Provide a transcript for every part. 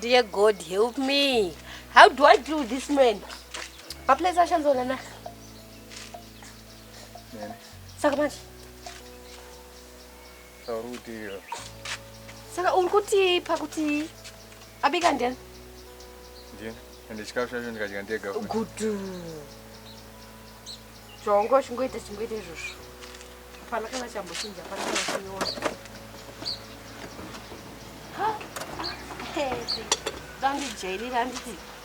Dear God, help me. How do I do this man? Maplace ashanzona na. Saka manje. Saka uri kutii? Saka uri kutii pakuti abika ndiyani? Ndiyani. Ende chikafu chacho ndikadya ndega. Gudu. Chongo chingoita chingoita izvozvo. Hapana kana chambochinja, hapana kana chinoona. Ha? Hey, dandijairira handiti.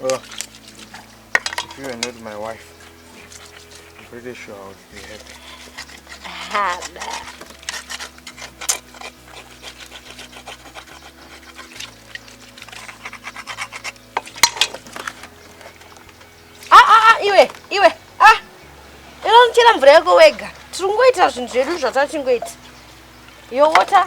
if you are not my wife, I'm pretty sure I would be happy. Haba. Ah, ah, ah, iwe, iwe, ah. Inonchera mvura yako wega. Tiri kungoita zvinhu zvedu zvatachingoita. Your water.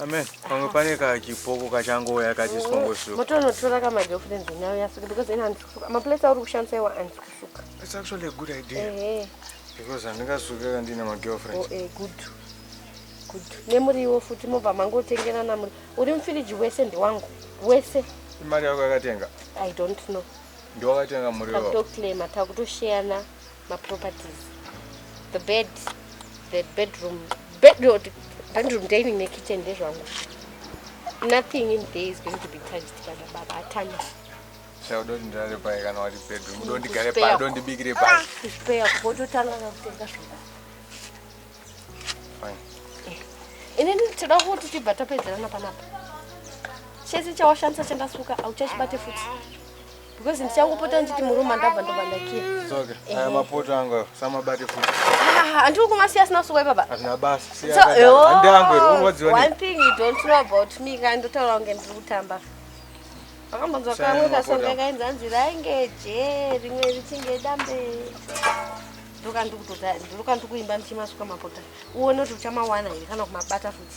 Amen. Pamwe pane kachipoko kachangouya kachiswa ngosuka. Motonotora kama girlfriend now yasuka because ina ndikusuka. Ma place auri kushandisa iwa andikusuka. It's actually a good idea. Eh. eh. Because andingasuka ka ndina ma girlfriend. Oh eh good. Good. Nemuriwo futi mobva mangotengerana muri. Uri mfiriji wese ndi wangu. Wese. Imari yako yakatenga? I don't know. Ndiwakatenga muriwo. Takutoklema takutosheyana. maproperties the bed the bedroom bedroom bedroom dining nekitchen ndezvangu nothing in there is going to be touched by the baba atana chaudoti ndirare paye kana wati bedroom udondigare paye udondibikire paye ah, kuspare kototanga kakutenga zvoda fine eh. inini tinoda kuti tibva tapedzerana panapa chese chawashandisa chandasuka auchachibate futi because ndichangopota ndichiti murume andabva ndobva ndakira soke eh. aya mapoto angu samabate futi ah, andiri kumasiya asina kusuka ipapa hazvina basa siyaandianguerunoziwa oh, one thing you don't know about me ka ndotaura kunge ndiri kutamba akambonzwa kamwe kasonga kainzi anzi rainge je rimwe richinge dambe ndiruka ndikuimba ndichimasuka mapota uone kuti uchamawana here kana kumabata futi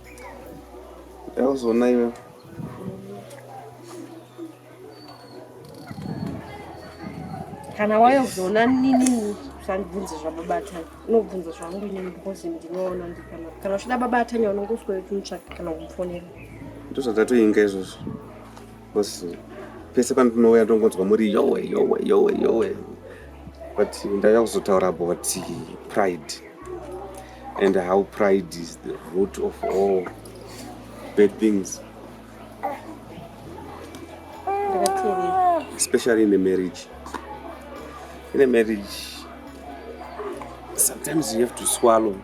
Yazoona iwe. Kana waya kuzoona nini usandibvunze zvababa Atanya. Unobvunza zvangu inini because ndinoona ndikana. Kana uchida baba Atanya unongoswera uchimtsvaka kana kumfonera. Ndozvatatoinga izvozvo. because pese pandinouya ndongonzwa muri yowe yowe yowe yowe but ndauya kuzotaura about pride and how pride is the root of all bad things especially in a marriage in a marriage sometimes you have to swallow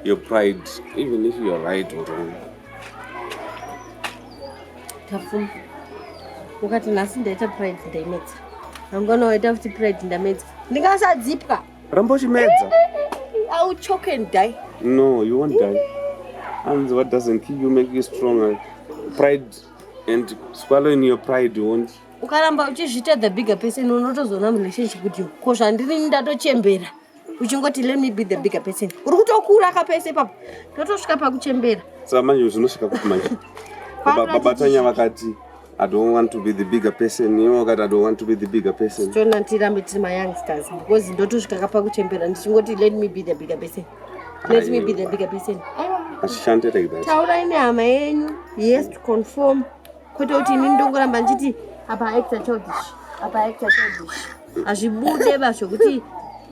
your pride even if you're right or wrong Tafuma. Ukati nhasi ndaita pride ndaimedza. Mangwana waita futi pride ndamedza. Ndingasadzipwa. Ramba uchimedza. I will choke and die. No, you won't die. And what doesn't kill you make you stronger. Pride and swallowing your pride won't. Ukaramba uchizviita the bigger person unotozoona relationship kuti ko zvandiri ndatochembera. uchingoti let me be the bigger person uri kutokura ka pese ipapo totosvika pakuchembera saka manje zvinosvika kuti manje babatanya vakati I don't want to be the bigger person. You know that I don't want to be the bigger person. So nantirambe tiri my youngsters because ndotosvika kapa kuchembera ndichingoti let me be the bigger person. Let me be the bigger person. Ashishante like that. Taurai nehama yenyu. Yes to conform. Kwete kuti ini ndongoramba ndichiti apa actor childish. Apa actor childish. hazvibude ba zvekuti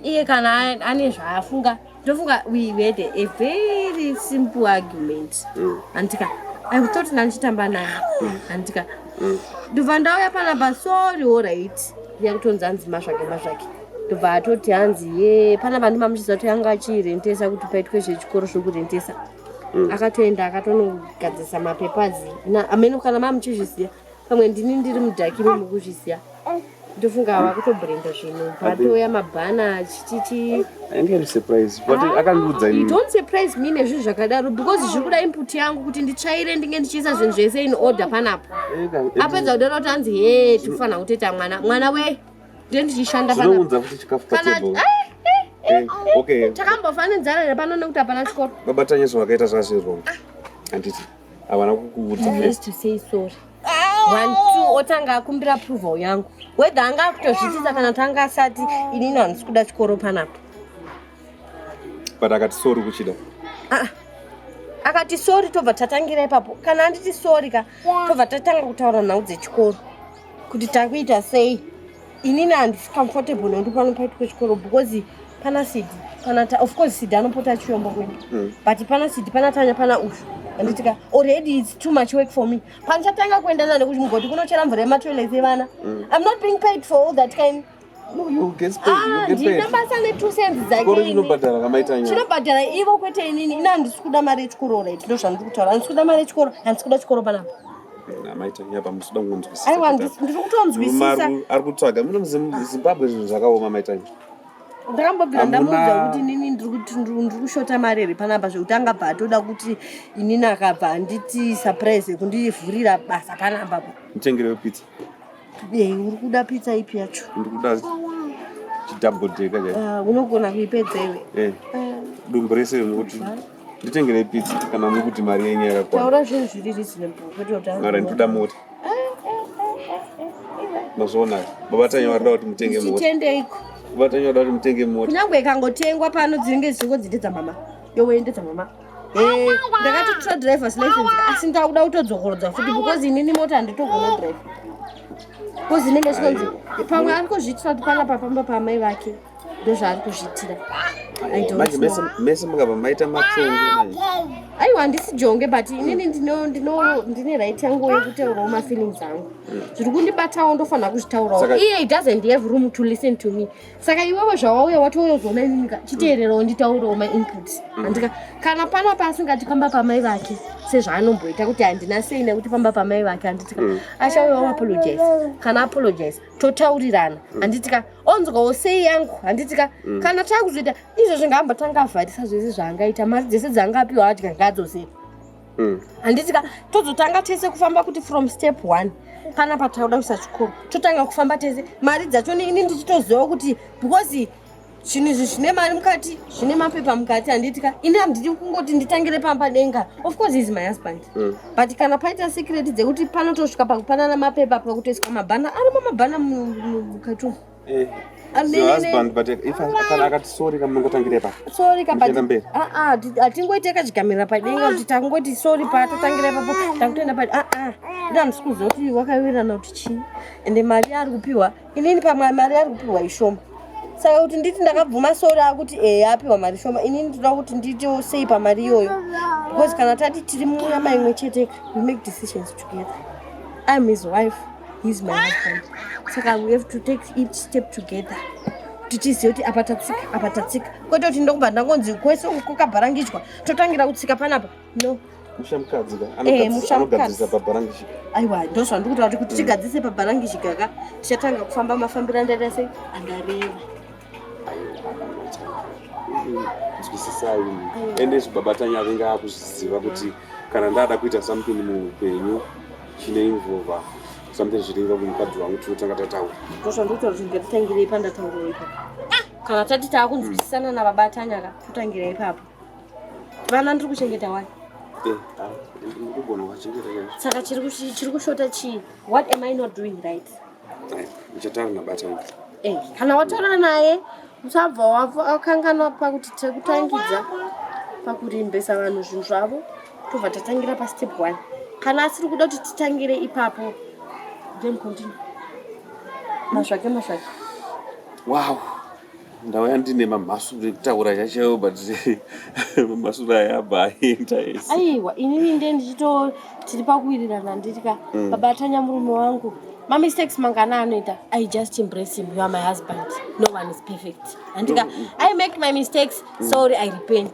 iye kana ane zvaafunga ndofunga we had a very simple argument mm. andika i thought ndandichitamba naye mm. andika mm. ndobva ndauya panapa sorry allright ndiya kutonzi hanzi mazvake mazvake ndobva atoti hanzi ye panapa ndimamuchiziva kuti anga achirentesa kuti paitwe zvechikoro zvekurentesa akatoenda akatonogadzisa mapepazi ameno kana mamuchizviziva pamwe ndini ndiri mudhaki imi mukuzviziva ndofunga ava kutobrenda zvinhu patoya mabhana chititi don't surprise me nezvinhu zvakadaro because zviri kuda input yangu kuti nditsvaire ndinge ndichiisa zvinhu zvese in order panapo apedza kudaro kuti hanzi he tikufanira kutoita mwana mwana we nde ndichishanda takambofanira nzara here pano nekuti hapana chikoro babatanyezvo vakaita zvazviro handiti ah. havana kukuudza otanga akumbira approval yangu whether anga akutozvitisa kana kuti anga asati inini handisi kuda chikoro panapo but akati sori kuchida ah, akati sori tobva tatangira ipapo kana anditi sori ka tobva tatanga kutaura nhau dzechikoro kuti takuita sei inini handisi comfortable nokuti pano paiti kwechikoro because pana sidi pana ta of course sidi anopota achiomba kwedu mm. but pana sidi pana tanya pana ushu anditika already its too much work for me pandichatanga kuenda nane kuchimugoti kunochera mvura yematoilet evana mm. i'm not being paid for all that kind ndina basa netu cents dzakeichinobhadhara kamaitachinobhadhara ivo kwete inini ini handisi kuda mari yechikoro right ndo zvandiri kutaura handisi kuda mari yechikoro handisi kuda chikoro panapa aiwa ndiri kutonzwisisa ari kutsvaga muno muzimbabwe zvinhu zvakaoma maitanya ndakambobvira ndamuudza kuti inini ndiri kushota mari here panapa zvekuti angabva atoda kuti inini akabva handiti surprise yekundivhurira basa panapa mutengere wepizza Yei, uri kuda pizza ipi yacho? Ndikuda chidouble decker chai. Ah, unogona kuipedza iwe. Eh. Ah, Dumbu rese rinokuti nditengere pizza kana mukuti mari yenyu yakakwana. Taura zvinhu zviri reasonable kwete kuti Mara anzi- ndikuda mota. Mazviona. Baba tanyi varida kuti mutenge mota. Chitendeiko? Baba tanyi varida kuti mutenge mota. Kunyangwe ikangotengwa pano dzinenge dzichingo dzidedza mama. Yowe ndedza mama. Eh, ndakatotora drivers license asi ndakuda kutodzokorodza futi because inini mota handitogona drive because inenge zvinonzi pamwe ari kuzviitira kuti panapa pamba paamai vake ndozvaari kuzviitira mese mukabva maita matongo aiwa handisi jonge but inini ndine right yangu yekutaurawo mafeelings angu zviri kundibatawo ndofanira kuzvitaurawo iye he doesn't have room to listen to me saka iwewe zvawauya watouya uzoona inini ka chiteererawo nditaurewo mainputs mm. andika kana pana paasingati pamba pamai vake sezvaanomboita kuti handina sei nekuti pamba pamai vake handitika mm. achauyawo apologize kana apologize totaurirana mm. handitika onzwawo sei yangu handitika kana takuzoita izvo zvingaambatanga avharisa zvese zvaangaita mari dzese dzaanga apiwa adya ngadzo sei mm. handiti ka tozotanga tese kufamba kuti from step one kana patauda kuisa chikoro totanga kufamba tese mari dzacho ini ndichitoziva kuti because zvinhu izvi zvine mari mukati zvine mapepa mukati handiti ka ini handidi kungoti nditangire pamba denga of course is my husband mm. but kana paita secret dzekuti panotosvika pakupanana mapepa pakutoiswa mabhana arimo mabhana mukati umu Eh. hatingoite kachigamirira padenga kuti tangoti sori patotangira ipapo takutoenda pa aa ah, ah. ida handisi kuziva kuti wakawirirana kuti chii ende mari yaari kupiwa inini pamwe mari yaari kupiwa ishoma saka kuti nditi ndakabvuma sori akuti e eh, apiwa mari shoma inini ndinoda kuti ndiitewo sei pamari iyoyo because kana tati tiri munyama imwe cheteka we make decisions together im his wife he's my husband saka we have to take each step together tichiziva kuti apa tatsika apa tatsika kwete kuti ndokubva ndangonzi kwese uko kabharangichwa totangira kutsika panapa no aiwa eh, ndo zvandiri kutaura kuti tigadzise pabharangichikaka tichatanga kufamba mafambiro andaita sei andareva nzwisisai ende izvi baba tanya avenga akuzviziva kuti kana ndada kuita something muupenyu chine involva something zviringa kumukadzi wangu tinotanga tataura ndozvandoita kuti ngatitangirei pandataurawo ipapo ah! kana tati taakunzwisisana nababa tanya ka totangira ipapo vana ndiri kuchengeta wani eh, ah, saka chiri kushota chii what am i not doing right ndichataura nabatani eh, kana wataura naye usabva wakanganwa pakuti tekutangidza pakurembesa vanhu zvinhu zvavo tobva tatangira pastep one kana asiri kuda kuti titangire ipapo then continue mazvake mazvake wow ndauya ndine mamhasuru ekutaura chachaiwo but mamhasuru aya abva aenda ese aiwa inini nde ndichito tiri pakuwirirana nditya mm. baba atanya murume wangu mamistakes mangana anoita i just embrace him you are my husband no one is perfect andika mm. i make my mistakes mm. sorry i repent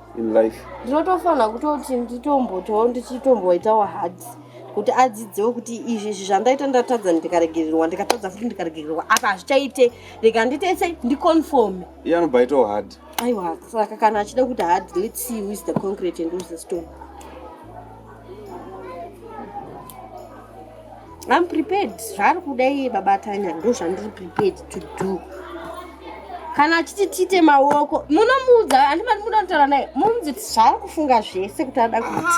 in life ndinotofanira kutoti nditombotawo ndichitomboitawo hard kuti adzidzewo kuti izvi izvi zvandaita ndatadza ndikaregererwa ndikatadza futi ndikaregererwa apa hazvichaite rega nditese ndiconfome iye anobva aitawo hard aiwa saka kana achida kuti hard let's see who is the concrete and who is the stone I'm prepared zvaari kuda iye baba Tanya ndozvandiri prepared to do kana achiti tiite maoko munomuudza handi mani muda kutaura naye muudzi kuti zvaari kufunga zvese kuti ada kuti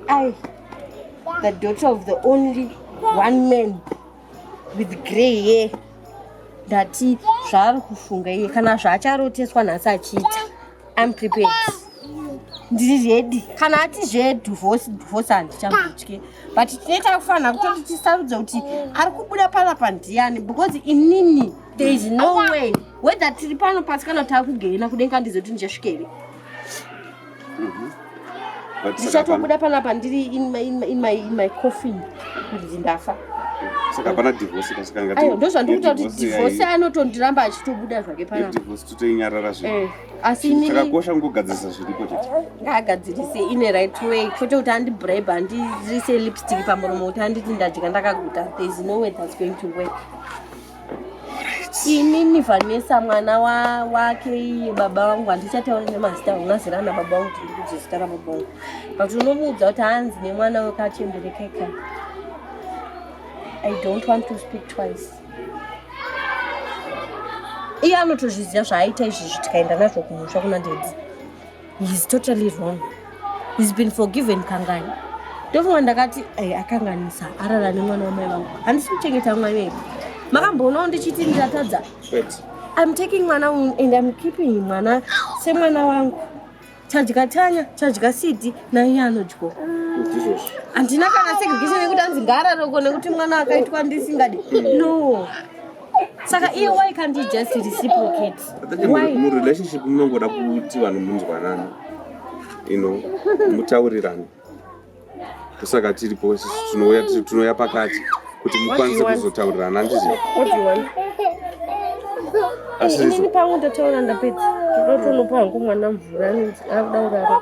ai the daughter of the only one man with grey ye ndati zvaari kufunga iye kana zvaacharoteswa nhasi achiita im prepared ndiri redi kana ati zvedivose divose handichamutye but tinoita kufanira kutoti tisarudza kuti ari kubuda pala pandiyani because inini there is no way whether tiri pano pasi kana taakugeina kudenga ndizoti ndichasvikere ndichatobuda panapa ndiri in my, in my, in my, in my coffin kuti ndafa saka hapana divorce kasikanga ayo ndozvandikuta kuti divorce anotondiramba achitobuda zvake panadivorce totoinyarara zvi eh, asi chakakosha kungogadzirisa zviripo chete eh, ngaagadzirise ine right way kwete kuti andibribe andirise lipstick pamuromo kuti anditi ndadya ndakaguta there is no way that's going to work inini vanesa mwana wa, wake iye baba vangu handichatauri nemazita unazira na baba vangu kuti ndikuti zita ra baba vangu but unomuudza kuti hanzi nemwana wekachemberekeka i don't want to speak twice iye anotozviziva zvaaita izvizvi tikaenda nazvo kumusha kuna ndedzi He's totally wrong. He's been forgiven Kangani. Ndofunga ndakati eh, akanganisa arara nemwana wamai vangu. Handisi kuchengeta mwana iye. Makamboonawo ndichiti ndatadza. I'm taking mwana and I'm keeping mwana semwana wangu. Chadya tanya, chadya sidi naiye anodyo. Handina kana segregation yekuti anzi ngaararoko nekuti mwana akaitwa ndisingadi. No. saka iye why can't you just reciprocate why murelationship munongoda kuti vanhu munzwanana you know mutaurirane ndosaka tiripo tinouya tinouya pakati kuti mukwanise kuzotaurirana andizvo asizvo pangu ndotaura ndapedza ndotonopa hangu mwana mvura anonzi akuda kurara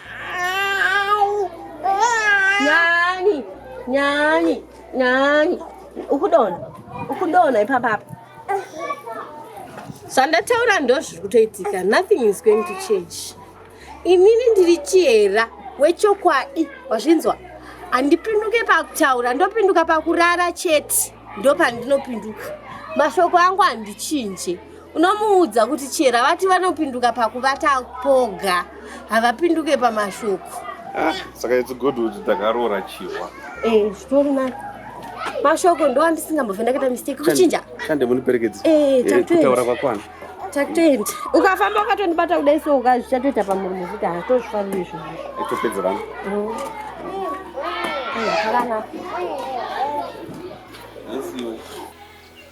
Nyani, nyani, nyani. Ukudona, ukudona ipapa apa. Zvandataura ndozviri kutoitika. Nothing is going to change. Inini ndiri chihera wechokwadi wazvinzwa. Handipinduke pakutaura, ndopinduka pakurara chete. Ndopandinopinduka. Mashoko angu handichinje. unomuudza kuti chera vati vanopinduka pakuvata poga havapinduke pamashoko ah, saka it's good kuti takaroora chihwa eh, zvitori nani mashoko ndo andisingambove ndakaita mistake kuchinja chande muniperekedzi eh, eh, kutaura kwakwana takutoenda ukafamba ukatondibata kudai so uka zvichatoita pamurume kuti hatozvifariri izvo itopedza vana mm. zvakanaka